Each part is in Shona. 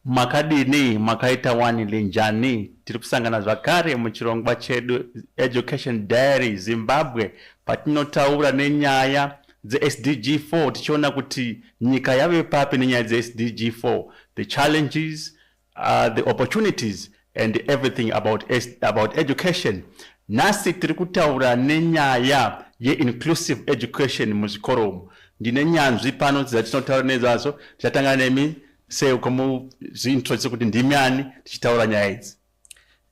makadini makaita wani linjani tiri kusangana zvakare muchirongwa chedu education diary zimbabwe patinotaura nenyaya dzesdg 4 tichiona kuti nyika yave papi nenyaya dzesdg 4 the challenges uh, the opportunities and everything about, about education nhasi tiri kutaura nenyaya yeinclusive education muzvikoro umu ndine nyanzvi pano dzatinotaura nezvazo tichatanga nemi seukamuzviintroduce kuti ndimi ani tichitaura nyaya idzi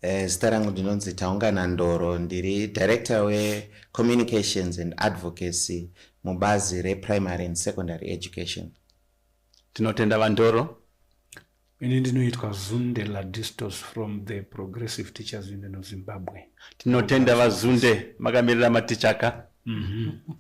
eh, zita rangu ndinonzi taungana ndoro ndiri director wecommunications and advocacy mubazi reprimary and secondary education tinotenda vandoro Ini ndinoitwa Zunde Ladistos from the Progressive Teachers Union of Zimbabwe. Tinotenda vaZunde makamirira matichaka. Mm -hmm.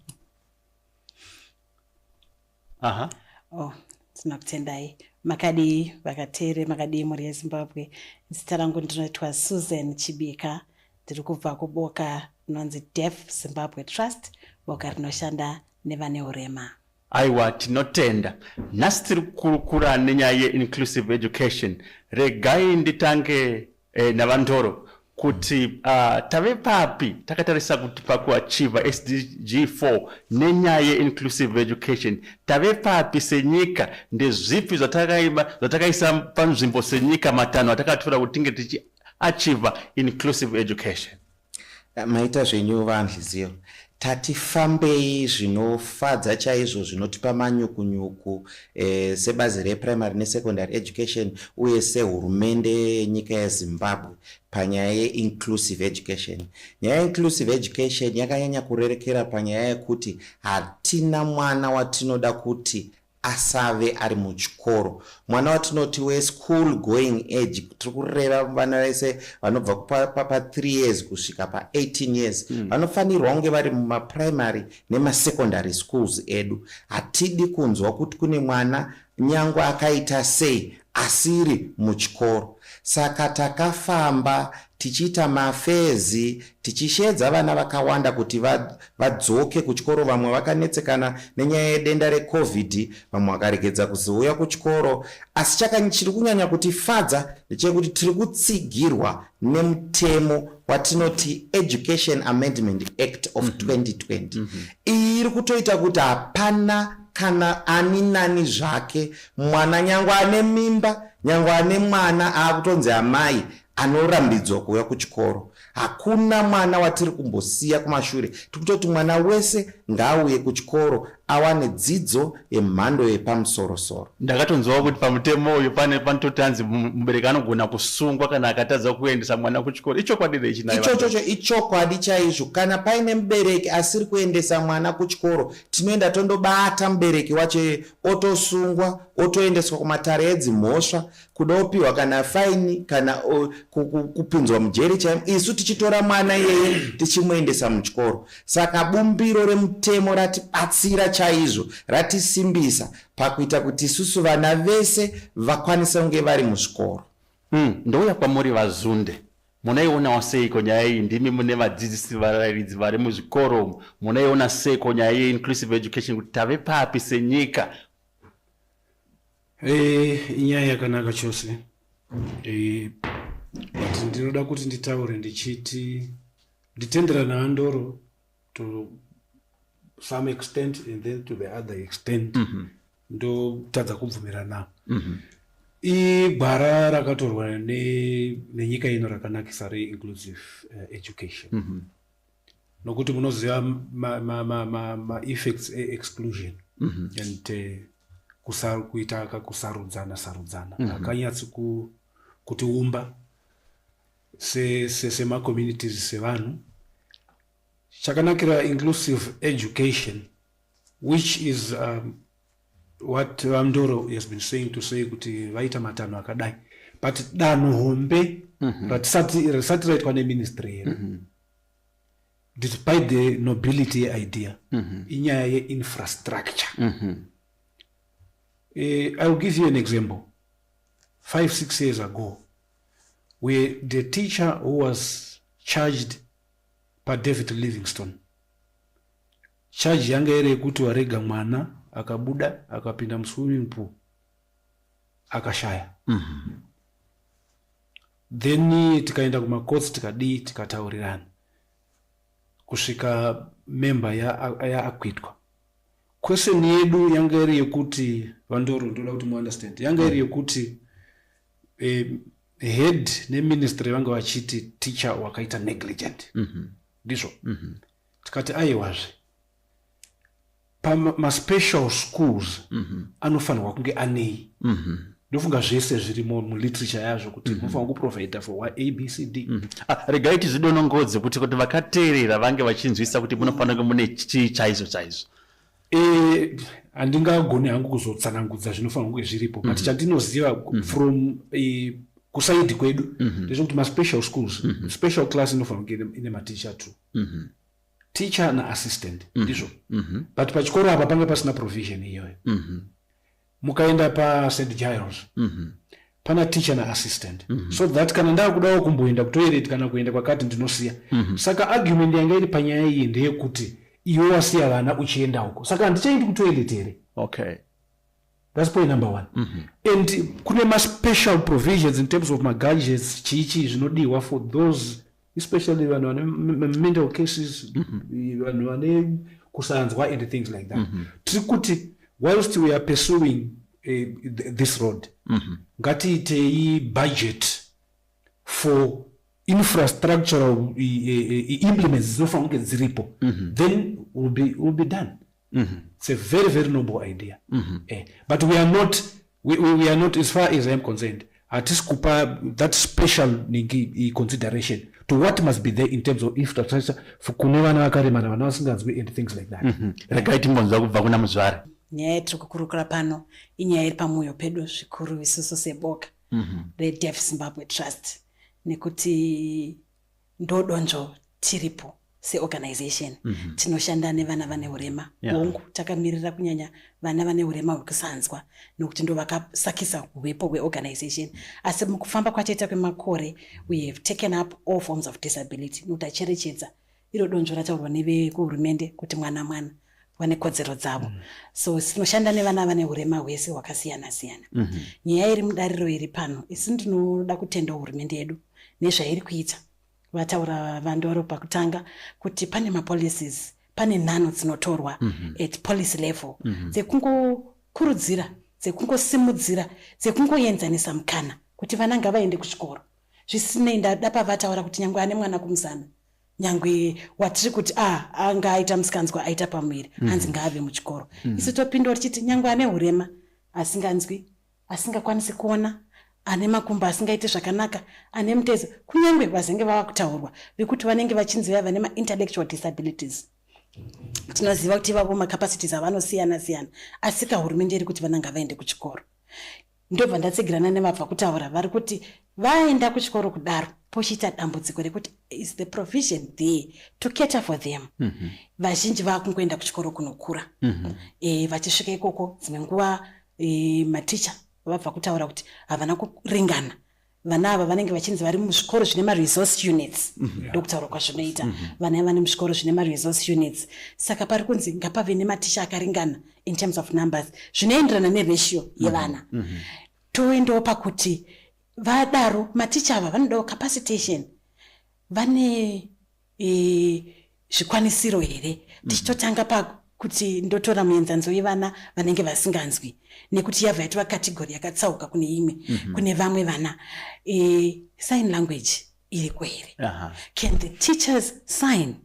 Aha. Oh, tinokutendai. Makadii vakatere, makadii mhuri yeZimbabwe. Zita rangu ndinoitwa Susan Chibika. Ndiri kubva kuboka rinonzi Deaf Zimbabwe Trust, boka rinoshanda nevane urema. Aiwa tinotenda. Nhasi tiri kukurukura nenyaya yeinclusive education. Regai nditange eh, naVaNdoro kuti uh, tave papi takatarisa kuti pakuachiva sdg 4 nenyaya yeinclusive education tave papi senyika ndezvipi zvatakaisa panzvimbo senyika matanho atakatora kuti tinge tichiachiva inclusive education Maita zvenyu vaAnhliziyo. Tati fambei zvinofadza chaizvo zvinotipa manyukunyuku eh, sebazi reprimary nesecondary education uye sehurumende yenyika yezimbabwe panyaya yeinclusive education nyaya yeinclusive education yakanyanya kurerekera panyaya yekuti hatina mwana watinoda kuti asave ari muchikoro mwana watinoti weschool going age tiri kureva vana vese vanobva papa 3 years kusvika pa18 years hmm. vanofanirwa mm. kunge vari mumaprimary nemasecondary schools edu hatidi kunzwa kuti kune mwana nyangwe akaita sei asiri muchikoro saka takafamba tichiita mafairs tichisheedza vana vakawanda kuti vadzoke kuchikoro vamwe vakanetsekana nenyaya yedenda recovid vamwe vakaregedza kuzouya kuchikoro asi chakanyi chiri kunyanya kutifadza ndechekuti tiri kutsigirwa nemutemo watinoti education amendment act of 2020 mhm. mhm. iyi iri kutoita kuti hapana kana ani nani zvake mwana nyangwe ane mimba nyangwe ane mwana aakutonzi amai anorambidzwa kuuya kuchikoro hakuna mwana watiri kumbosiya kumashure tiri kutoti mwana wese ngaauye kuchikoro awane dzidzo yemhando yepamusorosoro ndakatonzwawo kuti pamutemo uyu pane panototi anzi mubereki anogona kusungwa kana akatadza kuendesa mwana kuchikoro ichokwadi here china ichochocho ichokwadi chaizvo kana paine mubereki asiri kuendesa mwana kuchikoro tinoenda tondobata mubereki wacho otosungwa otoendeswa kumatare edzimhosva kuda upiwa kana faini kana kupinzwa mujeri chaimo isu tichitora mwana iyeye tichimuendesa muchikoro saka bumbiro remutemo ratibatsira chaizvo ratisimbisa pakuita kuti isusu vana vese vakwanise kunge vari muzvikoro mm, ndouya kwamuri vazunde munaionawo seiko nyaya iyi ndimi mune vadzidzisi varairidzi vari muzvikoro umu munaiona seiko nyaya yeinclusive education kuti tave papi senyika Eh, inyaya yakanaka chose eh, but ndinoda kuti nditaure ndichiti nditendera naandoro to some extent and then to the other extent mm -hmm. ndotadza kubvumirana mm -hmm. igwara rakatorwa nenyika ne ino rakanakisa reinclusive uh, eh, education mm -hmm. nokuti munoziva maeffects ma, ma, ma, ma eexclusion mm -hmm. and uh, kusa, kuita kakusarudzana sarudzana mm -hmm. akanyatsi ku, kutiumba semacommunities se, se sevanhu chakanakira inclusive education which is um, what vamdoro has been saying to say kuti vaita matanho akadai but danho hombe mm -hmm. ratisati raitwa neministry here mm -hmm despite the nobility yeidea mm -hmm. inyaya yeinfrastructure mm -hmm. uh, iwill give you an example five six years ago where the teacher who was charged padavid livingstone charge yanga iri yekuti warega mwana akabuda akapinda muswimming pool akashaya mm -hmm. then tikaenda kumacourts tikadii tikataurirana kusvika member yaakwitwa ya question yedu yanga iri yekuti vandoro ndoda kuti muunderstand yanga iri yekuti eh, head neministry vanga vachiti teacher wakaita negligent mhm. ndizvo mm -hmm. mm -hmm. tikati aiwazve pamaspecial schools mm -hmm. anofanirwa kunge anei mm -hmm ndofunga zvese zvirimo muliterature yazvo kuti mhm. munofanira kuprovidha for wa abcd mhm. ah, regai tizvidonongodze kuti kuti vakateerera vange vachinzwisisa kuti munofanira kunge mune chii chaizvo chaizvo eh, handingagoni hangu kuzotsanangudza zvinofanira kunge zviripo but mhm. chandinoziva from eh, kusaidi kwedu ndezvekuti maspecial schools special class inofanira kunge ine maticha two teacher na assistant mm-hmm. ndizvo mm -hmm. but pachikoro apa panga pasina provision iyoyo mm -hmm. mukaenda pa st giles mm -hmm. pana teacher na assistant mm -hmm. so that kana ndakudawo kumboenda kutoilet kana kuenda kwakati ndinosiya mm -hmm. saka argument yanga iri panyaya iyi ndeyekuti iwe wasiya vana uchienda uko saka handichaindi kutoilet here okay That's point number one. Mm -hmm. And kune ma special provisions in terms of ma gadgets chichi zvinodiwa for those especially vanhu vane mental cases mm-hmm. vanhu vane kusanzwa and things like that. Mm-hmm. Tiri kuti whilst we are pursuing uh, this road mm-hmm. ngatiitei budget for infrastructural uh, uh, implements dzinofanira kunge dziripo mm-hmm. then will be, will be done mm -hmm. it's a very very noble idea mm -hmm. eh, but we are not we, we, we are not as far as i am concerned hatisi kupa that special ningi consideration to what must be there in terms of infrastructure kune vana vakaremara vana vasinganzwi and things like that mhm. regai timbonzwa kubva kuna muzvare nyaya yatiri kukurukura pano inyaya iri pamwoyo pedu zvikuru isusu seboka mhm. redeaf zimbabwe trust nekuti ndodonzvo tiripo seorganization mm -hmm. tinoshanda nevana vane urema yeah. hongu takamirira kunyanya vana vane urema hwekusanzwa nokuti ndo vakasakisa uvepo hweorganization asi mukufamba kwataita kwemakore we have taken up all forms of disability nokuti acherechedza iro donzvo rataurwa nevekuhurumende kuti mwana mwana vane kodzero dzavo mm. so tinoshanda nevana vane urema hwese hwakasiyana siyana mm -hmm. nyaya iri mudariro iri pano isi ndinoda kutenda hurumende yedu nezvairi kuita vataura vandoro pakutanga kuti pane mapolicies pane nhano dzinotorwa mm -hmm. at policy level mm -hmm. dzekungokurudzira dzekungosimudzira dzekungoenzanisa mukana kuti vana ngavaende kuchikoro zvisinei ndada pavataura kuti nyange ane mwana kumuzana nyangwe watiri kuti a ah, anga aita musikanzwa aita pamuviri mm. hanzi ngaave muchikoro mm. isu topindura tichiti nyangwe ane urema asinganzwi asingakwanisi kuona ane makumbo asingaiti zvakanaka ane mutezo kunyange vazenge vava kutaurwa vekuti vanenge vachinzi vaiva nemaintellectual disabilities tinoziva kuti ivavo macapacities avanosiyana siyana asika hurumende iri kuti vana ngavaende kuchikoro ndobva ndatsigirana nevabva kutaura vari kuti vaenda kuchikoro kudaro pochiita dambudziko rekuti is the provision there to cater for them mhm. vazhinji mm -hmm. vakungoenda kuchikoro kunokura mm -hmm. e, vachisvika ikoko dzimwe nguva e, maticha vabva kutaura kuti havana kuringana vana ava vanenge vachinzi vari muzvikoro zvine maresource units mhm. ndokutaura kwazvinoita mhm. vana vane muzvikoro zvine maresource units saka pari kunzi ngapave nematicha akaringana in terms of numbers zvinoenderana neratio mhm. yevana toendawo pakuti vadaro maticha ava vanodawo capacitation vane zvikwanisiro here mhm. tichitotanga pakuti ndotora muenzaniso wevana vanenge vasinganzwi nekuti yabva yatova kategori yakatsauka kune imwe mhm. kune vamwe vana e, sign language iriko here can the teachers sign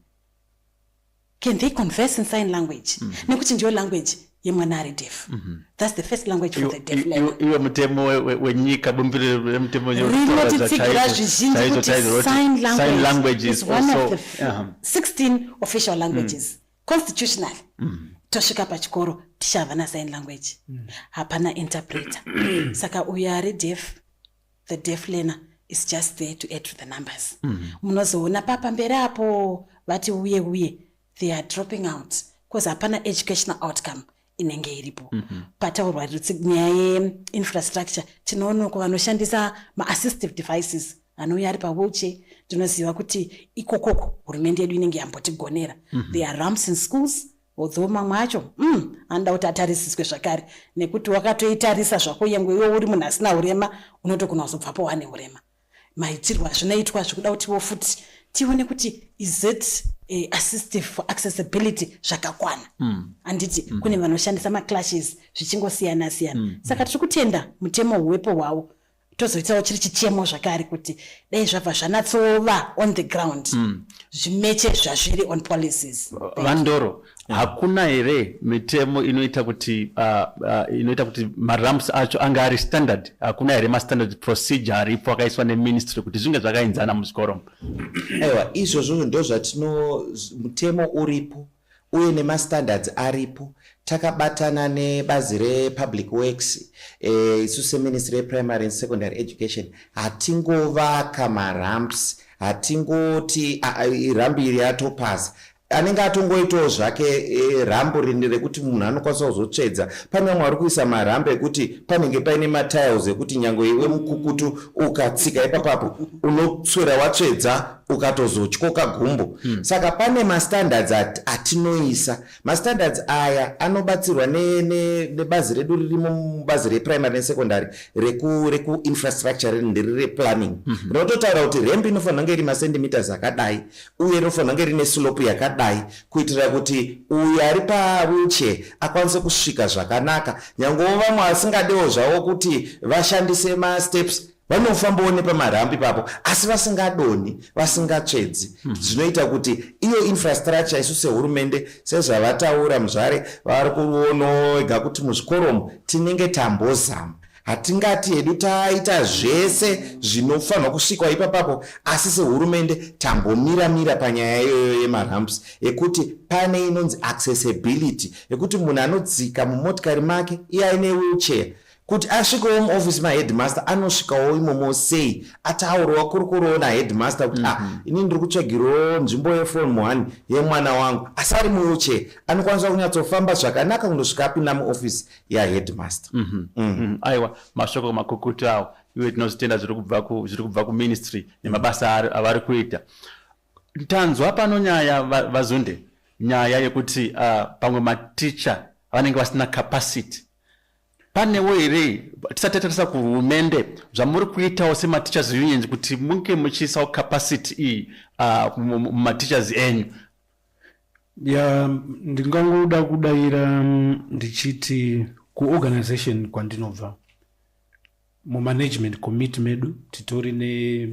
can they converse in sign language mm -hmm. nekuti ndiyo language yemwana ari deaf mm -hmm. thats the first language for the deaf iwe mutemo wenyika bumbiro remutemo rinotitsigira zvizhinji kuti sign language is one of the 16 official languages mm. constitutional mm. tosvika pachikoro tichava na sign language mm. hapana interpreter saka uyo ari deaf the deaf learner is just there to add to the numbers mm-hmm. munozoona mm -hmm. papamberi apo vati uye uye they are dropping out bcause hapana educational outcome inenge iripo mm -hmm. pataurwa nyaya yeinfrastructure tinoona ko vanoshandisa maassistive devices anouya ari pawheelchair tinoziva kuti ikokoko hurumende yedu inenge yambotigonera mm -hmm. there are ramps in schools although mamwe acho mm, anoda kuti atarisiswe zvakare nekuti wakatoitarisa zvako yengwe iwo uri munhu asina urema unotogona kuzobvapo wane urema maitirwo azvinoitwa zvikuda kutiwo futi tione kuti is it uh, assistive for accessibility zvakakwana mm. anditi mm. kune vanoshandisa maclashes zvichingosiyana siyana mm. saka tiri kutenda mutemo huwepo hwawo tozoitawo chiri chichemo zvakare kuti dai zvabva zvanatsova on the ground mm. zvimeche zvazviri on policies vandoro yeah. hakuna here mitemo inoita kuti uh, uh, inoita kuti maramps acho ange ari standard hakuna here mastandard procedure aripo akaiswa neministry kuti zvinge zvakainzana muzvikoro aiwa izvozvo ndozvatino mutemo uripo uye nemastandards aripo takabatana nebazi republic works eh, isu seministry yeprimary and secondary education hatingovaka maramps hatingoti ah, ah, rambi iri yatopasa anenge atongoitawo zvake eh, rambo rini rekuti munhu anokwanisa kuzotsvedza pane vamwe vari kuisa marambo ekuti panenge paine matiles ekuti nyange iwe mukukutu ukatsika ipapapo unoswera watsvedza ukatozotyoka gumbo mm. saka pane mastandards at, atinoisa mastandards aya anobatsirwa nebazi ne, ne redu ririmo mubazi reprimary nesecondary rekuinfrastructure reku ndiri replanning mhm. rinototaura mm -hmm. kuti rembi inofanira kunge iri macentimeters akadai uye rinofanira kunge rine slope yakadai kuitira kuti uyo ari pawheelchair akwanise kusvika zvakanaka nyangewo vamwe vasingadewo zvavo kuti vashandise masteps vanofambawo nepamarambi papo asi vasingadonhi vasingatsvedzi hmm. zvinoita kuti iyo infrastructure isu sehurumende sezvavataura muzvare vari kuonoega kuti muzvikoromo tinenge tambozama hatingati hedu taita zvese zvinofanirwa kusvikwa ipapapo asi sehurumende tambomira mira panyaya iyoyo yemaramps ekuti pane inonzi accessibility yekuti munhu anodzika mumotikari make iye aine wheelchair Kuti asvikewo muoffice maheadmaster anosvikawo imomo sei ataurwa kuri kurowo naheadmaster kuti mm -hmm. ah, mhm. ini ndiri kutsvagirawo nzvimbo yeform one yemwana wangu asi ari muwheelchair anokwanisa kunyatsofamba zvakanaka kundosvika apinda muoffice yaheadmaster mm -hmm. mm. mm -hmm. aiwa mashoko makukutu awo iwe tinozitenda zviri kubva kuministry nemabasa avari kuita tanzwa pano nyaya vazunde va nyaya yekuti uh, pamwe maticha vanenge vasina capacity panewo here tisati tatarisa kuhurumende zvamuri kuitawo semateachers unions kuti munge muchiisawo capacity iyi ah, mumateachers enyu ya ndingangoda kudayira mm, ndichiti kuorganization kwandinobva mumanagement committee medu titori ne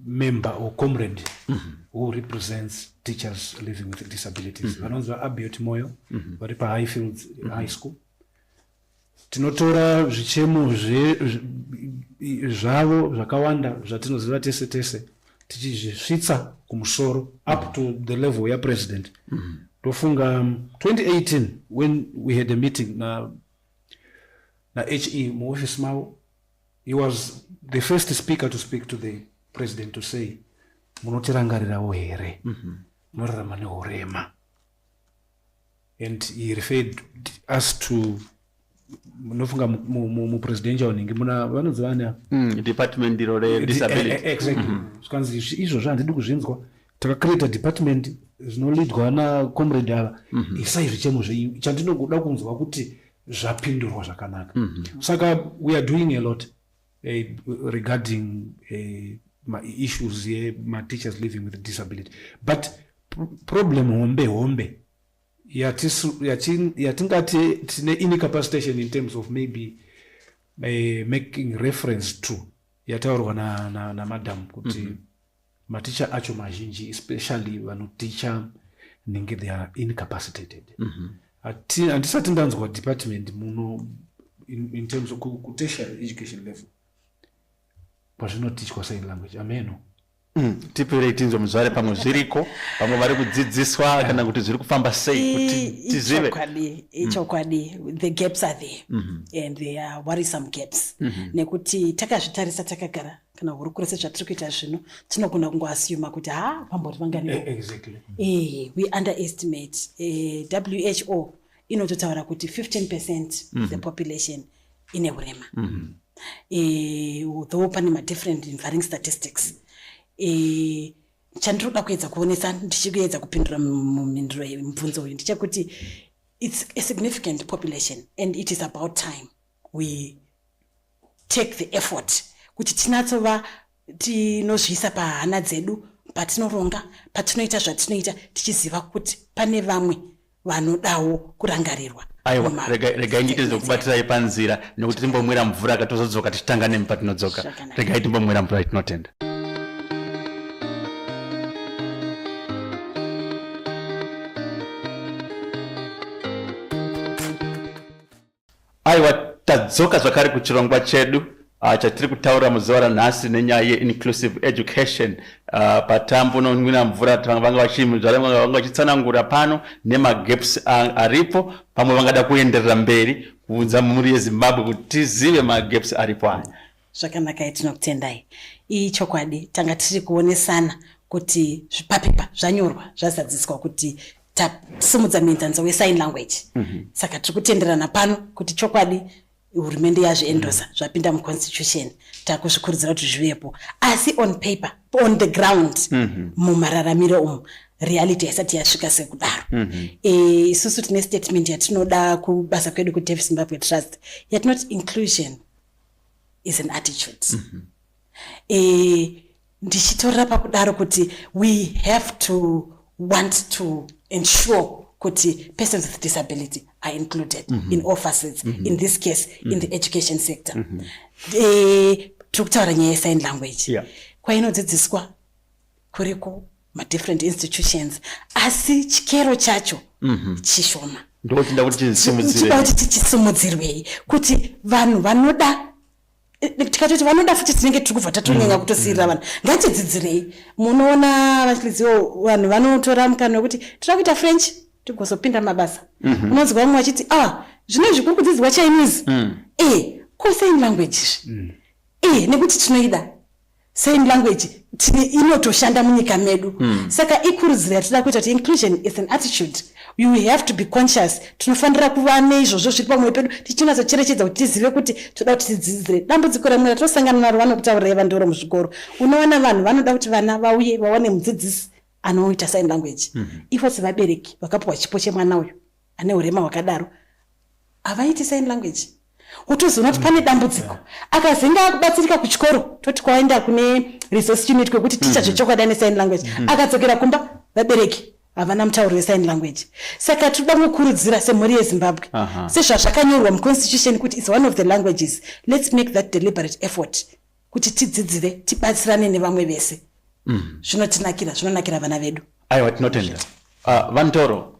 member or comrade mm -hmm. who represents teachers living with disabilities mm -hmm. vanonzi vaabiot moyo mm -hmm. vari pahighfields mm -hmm. high school tinotora zvichemo zvavo zvakawanda zvatinoziva tese tese tichizvisvitsa kumusoro up to the level yapresident mm -hmm. tofunga 2018 um, when we had a meeting na, na he muofisi mavo He was the first speaker to speak to the president to say munotirangarirawo here mhm. munorarama nehurema and he referred us to munofunga mupresidential unenge muna vanoziva ana mm, department iro redisability eh, eh, exactly mhm. zvikanzi izvozvo handidi kuzvinzwa takacreata department zvinolidwa nacomrade ava mm -hmm. isai zvichemo zvenyu chandinogoda kunzwa kuti zvapindurwa zvakanaka mm -hmm. saka we are doing a lot eh, regarding eh, maissues yemateachers living with disability but problem hombe hombe yatingati tine incapacitation in terms of maybe uh, making reference to yataurwa namadam na, na kuti mm -hmm. maticha acho mazhinji especially vanoticha nenge they are incapacitated mm -hmm. handisati ndanzwa department muno in, in terms of kutertiary education level kwazvinotichwa sign language ameno mm, tipirei tinzwe muzvare pamwe zviriko vamwe vari kudzidziswa kana kuti zviri kufamba sei kuti tizive ichokwadi mm. mm. the gaps are there mm -hmm. and there are worrisome gaps mm -hmm. nekuti takazvitarisa takagara kana hurukuro sezvatiri kuita zvino tinogona kungoasuma kuti ha pambori vangani eh, exactly. e, we underestimate e, eh, who inototaura kuti 15 percent mm -hmm. the mhm. population ine urema mm -hmm. e, though pane madifferent varying statistics e, chandiri kuda kuedza kuonesa ndichikuedza kupindura mumhinduro mubvunzo uyu ndechekuti it's a significant population and it is about time we take the effort kuti tinatsova tinozviisa pahana dzedu patinoronga patinoita zvatinoita tichiziva kuti pane vamwe vanodawo kurangarirwa aiwa regai ndiite zvekubatirai panzira nekuti timbomwira mvura katozodzoka tichitanga nemi patinodzoka regai timbomwira mvura itinotenda Aiwa tadzoka zvakare kuchirongwa chedu uh, chatiri kutaura muzuva ranhasi nenyaya yeinclusive education uh, patambo unonwira mvura vanga vachimuzvara vanga vachitsanangura pano nemagaps aripo pamwe vangada kuenderera mberi kuudza mhuri yezimbabwe kuti tizive magaps aripo aya zvakanakai tinokutendai iyi chokwadi tanga tiri kuonesana kuti zvipapepa zvanyorwa zvazadziswa kuti tasimudza muenzaniso wesign language mm -hmm. saka tiri kutenderana pano kuti chokwadi hurumende yazviendosa mm -hmm. zvapinda muconstitution takuzvikurudzira kuti zvivepo asi on paper on the ground mm -hmm. mumararamiro umu reality haisati yasvika sekudaro mm -hmm. e, isusu tine statement yatinoda kubasa kwedu kudev zimbabwe trust yatinoti inclusion is an attitude mm -hmm. e, ndichitorera pakudaro kuti we have to want to ensure kuti persons with disability are included mm -hmm. in all facets mm -hmm. in this case mm -hmm. in the mm-hmm. education sector mm -hmm. e, tiri kutaura nyaya yesign language yeah. kwainodzidziswa kuri ku madifferent institutions asi chikero chacho mhm. chishoma ndotinda kuti tichisimudzirei kuti tichisimudzirwei kuti vanhu vanoda eh, eh, tikatoti vanoda futi tinenge tiri kubva tatonyanya mhm. kutosiirira vanhu mhm. ngatidzidzirei munoona vachiliziwo vanhu vanotora mukana wekuti tira kuita french tigozopinda mabasa unonzwa vamwe vachiti a ah, zvino izvi kuri kudzidzirwa chinese e eh, ko sign language izvi e nekuti tinoida sign language tine inotoshanda munyika medu mm. saka ikurudziro yatinoda kuita kuti inclusion is an attitude you have to be conscious tinofanira kuva neizvozvo zviri pamwoyo pedu tichinatsocherechedza kuti tizive kuti toda kuti tidzidzire dambudziko remwe ratosangana naro vanokutaurirai vandoro muzvikoro unoona vanhu vanoda kuti vana vauye vawane mudzidzisi anoita sign language mm -hmm. ivo sevabereki vakapiwa chipo chemwana uyu ane urema hwakadaro havaiti sign language wotozoona kuti pane dambudziko akazenge akubatsirika kuchikoro toti kwaenda kune resource unit kwekuti ticha mm-hmm. zvechokwadi ane sign language mm-hmm. akadzokera kumba vabereki havana mutauro wesign language saka tinoda kukurudzira semhuri yezimbabwe sezvazvakanyorwa muconstitution kuti its one of the languages let's make that deliberate effort kuti tidzidzire tibatsirane nevamwe vese mm. zvinotinakira zvinonakira vana vedu aiwa tinotenda ah, vantoro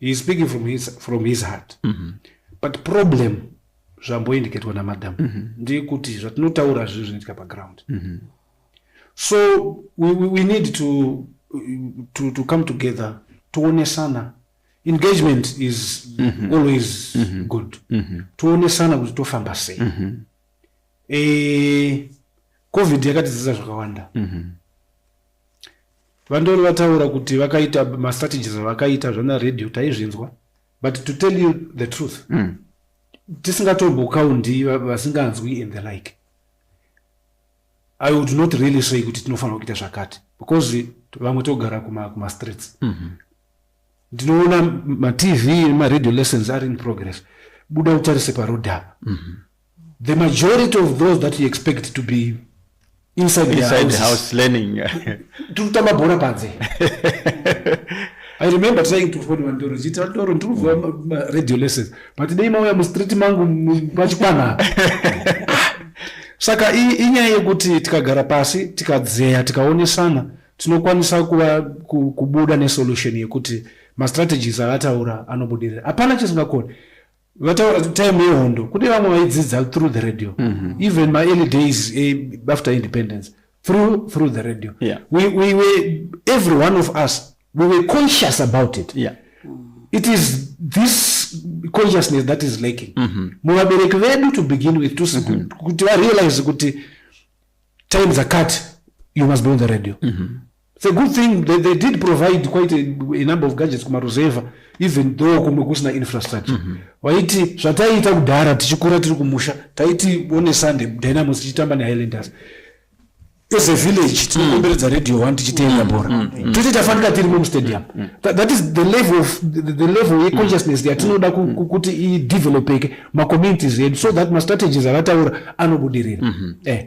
he is speaking from his, from his heart mm -hmm. but problem zvamboindiketwa namadam mm -hmm. ndeyekuti zvatinotaura zviri zvinoitika paground mm -hmm. so we, we, we need to, to, to come together toonesana engagement is mm -hmm. always mm -hmm. good mm -hmm. toonesana kuti tofamba sei mm -hmm. e, covid yakatidzidza zvakawanda mm -hmm. Vandoro vataura kuti vakaita mastrategies avakaita zvana radio taizvinzwa but to tell you the truth mm. tisingatobokaundi vasinganzwi and the like i would not really say kuti tinofanira kuita zvakati because vamwe togara kumastreets mm -hmm. ndinoona matv nemaradio lessons ari in progress buda utarise paroad apa mm -hmm. the majority of those that you expect to be inside, inside the house learning tiri kutamba bhora panze i remember trying to fone vandoro chiita vandoro ndiri kuziva maradio lessons but dei mauya mustreet mangu pachikwana saka inyaya yekuti tikagara pasi tikadzeya tikaonesana tinokwanisa kuva kubuda nesolution yekuti mastrategies avataura anobudirira hapana chisingakoni vataura kuti time yehondo kune vamwe vaidzidza through the radio mm -hmm. even my early days eh, after independence through through the radio yeah. we, we were every one of us we were conscious about it yeah. it is this consciousness that is lacking mm-hmm. muvabereki mm -hmm. vedu to begin with mm-hmm. kuti mm -hmm. varealize kuti time zakati you must be on the radio mm -hmm. It's a good thing they, they did provide quite a, a number of gadgets kumaruzevha even though kumwe kusina infrastructure mm -hmm. waiti zvataiita kudhara tichikura tiri kumusha taiti one sunday dynamos tichitamba nehighlanders as a village mm. tinokomberedza radio one tichitenda mm. bhora mm. tete tafanira tirimo mustadium that is the level of the level yeconsciousness yatinoda kuti idevelopeke macommunities edu so that mastrategies avataura anobudirira mm-hmm. eh.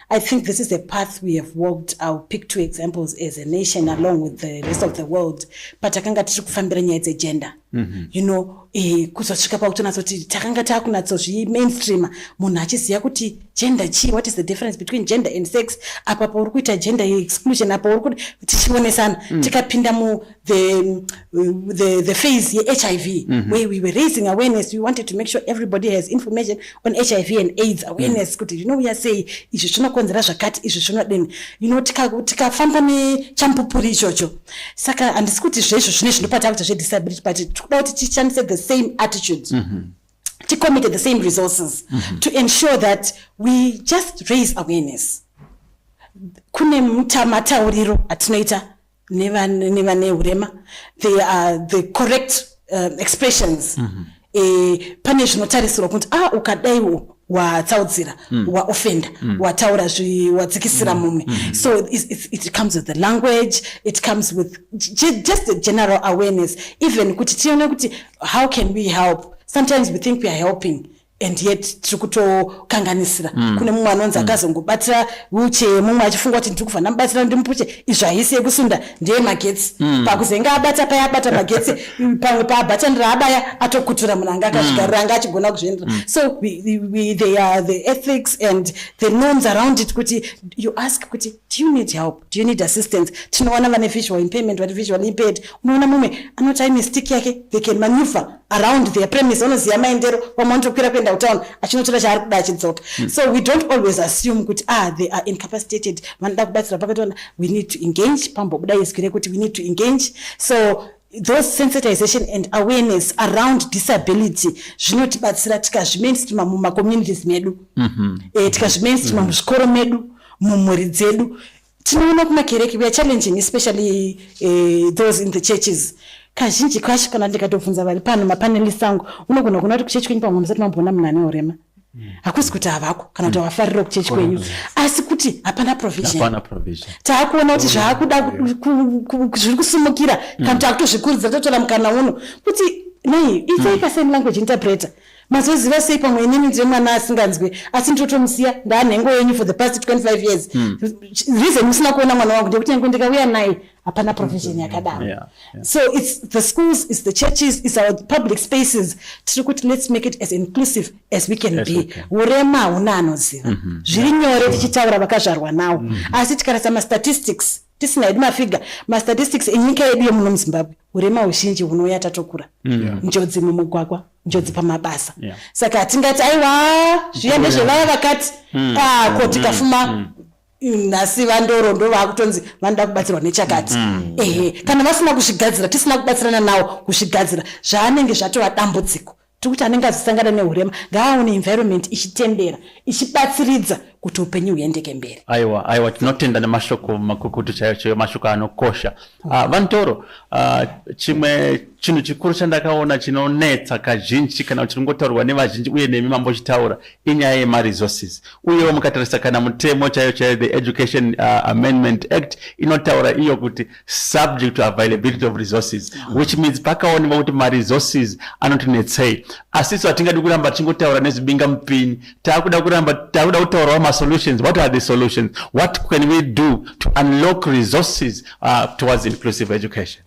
I think this is a path we have walked. I'll pick two examples as a nation along with the rest of the world. But takanga tichi kufambira nyaya dzegender. Mm -hmm. You know, eh, kuzosvika pakutonatsoti takanga takunatsozvi mainstreamer munhu achiziva kuti gender chii what is the difference between gender and sex apa pauri kuita gender exclusion apa uri kuti tichionesana mm. tikapinda mu the the the phase ye hiv mm -hmm. where we were raising awareness we wanted to make sure everybody has information on hiv and aids awareness mm. kuti mm. zvinouya sei izvi zvinokonzera zvakati izvi zvinodini you know tikafamba tika nechampupuri ichocho saka handisi kuti zvezvo zvine zvinopata kuti zvedisability but tikuda kuti tishandise the same attitude mm -hmm to commit the same resources mm -hmm. to ensure that we just raise awareness kune matauriro atinoita nevane urema they are the correct um, expressions mm -hmm. e, pane zvinotarisirwa kuti ah ukadaiwo watsaudzira mm. waofenda mm. wataura wadzikisira mm. mumwe mm. so it, it, it comes with the language it comes with just the general awareness even kuti tione kuti how can we help sometimes we think we are helping and yet tiri kutokanganisira mm. kune mumwe anonzi mm. akazongobatira wheelchair mumwe achifunga kuti ndiri kufanira mubatsira ndimupuche izvo haisi yekusunda ndeye magetsi mm. pakuzenge abata paya abata magetsi pamwe paabatanira abaya atokutura munhu anga akazvigarira mm. anga achigona kuzviendera mm. so we, we, we, they are the ethics and the norms around it kuti you ask kuti do you need help do you need assistance tinoona vane visual impairment vati visual impaired unoona mumwe anoti ai mistake yake they can maneuver around their premise vanoziva maendero vamwe vanotokwira kuenda kutown achinotora chaari kuda achidzoka mm. so we don't always assume kuti ah they are incapacitated vanoda kubatsira pakatoona we need to engage pambobuda izwi rekuti we need to engage so those sensitization and awareness around disability zvinotibatsira tikazvimainstreama mumacommunities medu mm -hmm. e, tikazvimainstreama mm -hmm. muzvikoro medu mumhuri dzedu Tinoona kumakereke we are challenging especially uh, those in the churches kazhinji kacho kana ndikatobvunza vari pano mapanelist angu unogona kuona kuti kuchechi kwenyu pamwe musati mamboona munhu ane urema hmm. hakusi kuti havako kana kuti havafarira hmm. kuchechi kwenyu asi kuti hapana provision taakuona kuti zvaakuda zviri kusimukira hmm. kana kuti akutozvikurudzira totora mukana uno kuti nei itsei pasame language interpreter mazoziva sei pamwe inini ndiye mwana asinganzwe asi ndotomusiya ndaanhengo yenyu for the past 25 years hmm. reason musina kuona mwana wangu ndekuti nyange ndikauya naye hapana provision hmm. yakadaro yeah, yeah. so its the schools its the churches its our public spaces tiri kuti let's make it as inclusive as we can yes, be urema okay. hauna anoziva mm -hmm. zviri nyore tichitaura vakazvarwa nawo mm -hmm. asi tikarasa mastatistics tisina hedu mafiga mastatistics enyika yedu yemuno muzimbabwe urema huzhinji hunouya tatokura mm. njodzi mumugwagwa njodzi mm. pamabasa yeah. saka hatingati aiwa zviya ndezvevaya vakati mm. ah, ko mm. tikafuma mm. mm. nhasi vandoro ndo vaakutonzi vanoda kubatsirwa nechakati mm. ehe kana vasina kuzvigadzira tisina kubatsirana nawo kuzvigadzira zvaanenge zvatova dambudziko tiri kuti anenge azosangana nehurema ngaaone environment ichitendera ichibatsiridza kuti upenyu huendeke mberi aiwa aiwa tinotenda nemashoko makukutu chaiyo chaiyo mashoko anokosha mm. uh, ah, vantoro uh, ah, chimwe chinhu chikuru chandakaona chinonetsa kazhinji kana kuti ringotaurwa nevazhinji uye nemi mambochitaura inyaya yemaresources uyewo mukatarisa kana mutemo chaiyo chaiyo the education uh, amendment act inotaura iyo kuti subject to availability of resources mm. which means pakaonekwa kuti maresources anotinetsei asi isu hatingadi kuramba tichingotaura nezvibinga mupini taakuda kuramba taakuda kutaurawo masolutions what are the solutions what can we do to unlock resources uh, towards inclusive education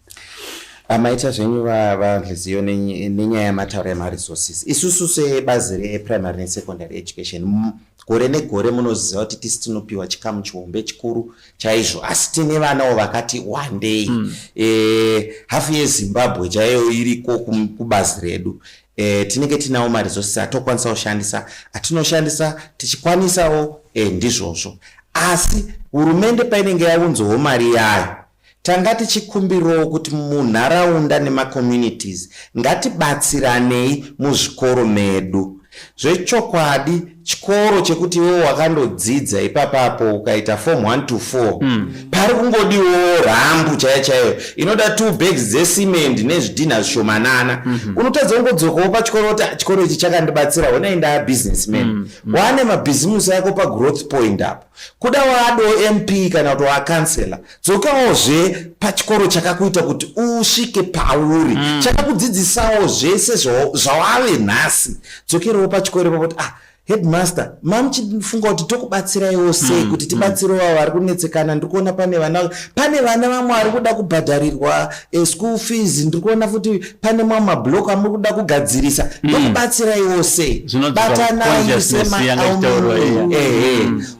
amaita zvenyu vavhiziyo nenyaya yamataura yemaresources isusu sebazi reprimary nesecondary education gore negore munoziva kuti tisi tinopiwa chikamu chihombe chikuru chaizvo asi tine vanawo vakati wandei mm. e, eh, hafu yezimbabwe chaiyo iriko kubazi redu e, tinenge tinawo maresources atokwanisa kushandisa atinoshandisa tichikwanisawo e, ndizvozvo asi hurumende painenge yaunzowo mari yayo Tanga tichikumbirowo kuti munharaunda nemacommunities ngatibatsiranei muzvikoro medu. Zvechokwadi chikoro chekuti iwewo wakandodzidza ipapa apo ukaita form 1 to 4 mm. pari kungodiwo rambu chaiyo chaiyo inoda two bags dzecement nezvidhinha zvishomanana mm -hmm. unotadza kungodzokawo pachikoro kuti ah, chikoro ichi chakandibatsira honai ndaa businessman mm. mm. wane mabhizimusi ako pagrowth point apo Kuda wado MP kana kuti wakansela, dzokawo zve pachikoro chakakuita kuti usvike pauri mm. chakakudzidzisawo zvese zvawave nhasi. Dzokerewo pachikoro ipapo kuti ah headmaster mamuchifunga kuti tokubatsiraiwo sei hmm, kuti hmm. tibatsirewo avo vari kunetsekana ndiri kuona pane vana pane vana vamwe vari kuda kubhadharirwa eschool fees ndiri kuona futi pane mamwe mablock amuri kuda kugadzirisa mm. ndokubatsiraiwo sei batanai semaehe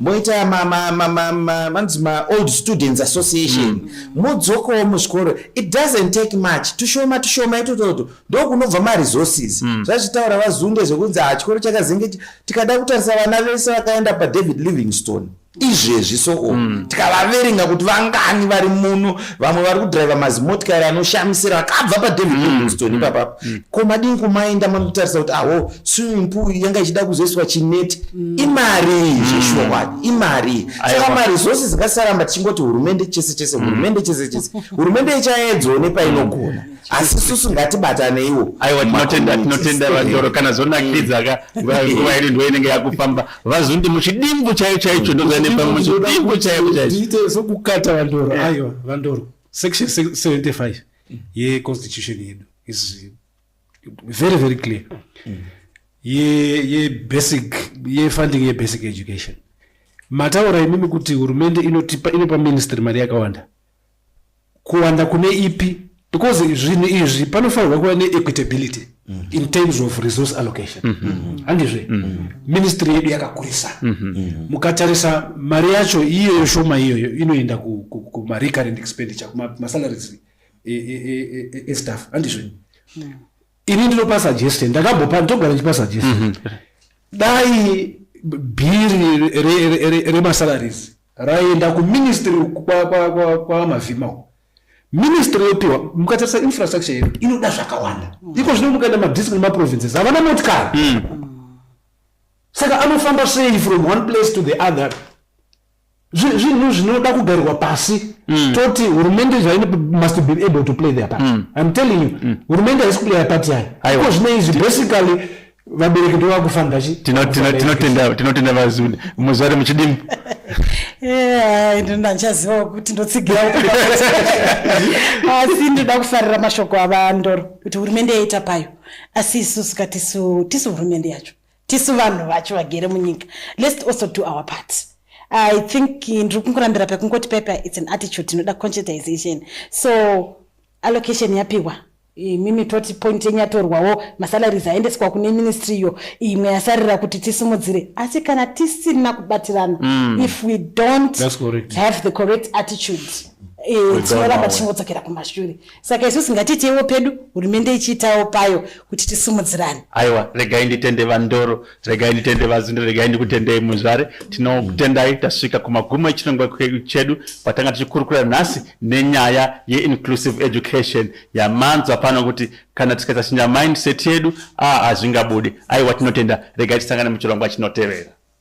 moita vanzi maold students association mm. mudzokowo muzvikoro it doesn't take much tushoma tushoma itototo ndokunobva maresources mm. zvazvitaura vazunde zvekunzi ha ah, chikoro chakazenge tikada kutarisa vana vese vakaenda padavid livingstone izvezvi so o mm. tikavaverenga kuti vangani vari muno vamwe vari kudriva mazimotikari anoshamisira akabva padavid mm. livingston mm. ipapa mm. ko madini kumaenda manotarisa kuti aho swimming pool yanga ichida kuzoiswa chineti mm. imari zveshuwa mm. kwai imari saka mari zvose zikasaramba tichingoti hurumende chese chese mm. hurumende chese chese hurumende ichaedzo nepainogona mm asi susu ngatibataneiwo aiwa tinotenda tinotenda vandoro kana zvonakidza ka nguva iri ndoinenge yakufamba vazondi muchidimbu chaiyo chaicho ndozanepamwe muchidimbu chaiyo chaicho sokukata vandoro aiwa vandoro section 75 yeconstitution yedu is very very clear mm. yebasic yefunding yebasic education mataura imimi kuti hurumende inotipa inopa ministry mari yakawanda kuwanda kune ipi because zvinhu izvi panofanirwa kuva neequitability mm -hmm. in terms of resource allocation mm -hmm. handizve mm -hmm. ministry yedu yakakurisa mm -hmm. mukatarisa mari yacho iyoyo shoma iyoyo inoenda kumarecurrent ku, ku expenditure kumasalaries estaff e, e, e, handizve mm -hmm. ini ndinopa suggestion ndakambopa ndogara ndichipa suggestion mm -hmm. dai bhiri remasalaries re, re, re raienda kuministry kwamavhima kwa, kwa, kwa ministry yopiwa mukatarisa infrastructure yedu inoda zvakawanda mm. iko zvino mukaenda madistrict nemaprovinces havana motikari mm. saka anofamba sei from one place to the other zvinhu zvinoda kugarirwa pasi mm. toti hurumende zvaine must be able to play their part mm. im telling you mm. hurumende haisi kuplaya part yayo iko zvine izvi basically vabereki ndo vakufanira chi tinotenda vazuni muzvare muchidimu eh, ndinoda ndichaziva kuti ndotsigira asi ndoda kufarira mashoko avandoro kuti hurumende yaita payo asi isusu katisu tisu hurumende yacho tisu vanhu vacho vagere munyika lest also do our part i think ndiri kungorambira pekungoti pepa its an attitude inoda conscientization so allocation yapihwa imimi toti point yenyu yatorwawo masalaries aendeswa kune ministry iyo imwe yasarira kuti tisimudzire asi kana tisina kubatirana mm. if we don't have the correct attitude eh, tinoramba tichingodzokera kumashure saka isusi ngatiitewo pedu hurumende ichiitawo payo kuti tisimudzirane aiwa regai nditende vandoro regai nditende vazundo regai ndikutendei muzvare tinokutendai tasvika kumagumo echinongwa chedu patanga tichikurukura nhasi nenyaya yeinclusive education yamanzwa pano kuti kana tikaita chinja mindset yedu a ah, hazvingabudi aiwa tinotenda regai tisangane muchirongwa chinotevera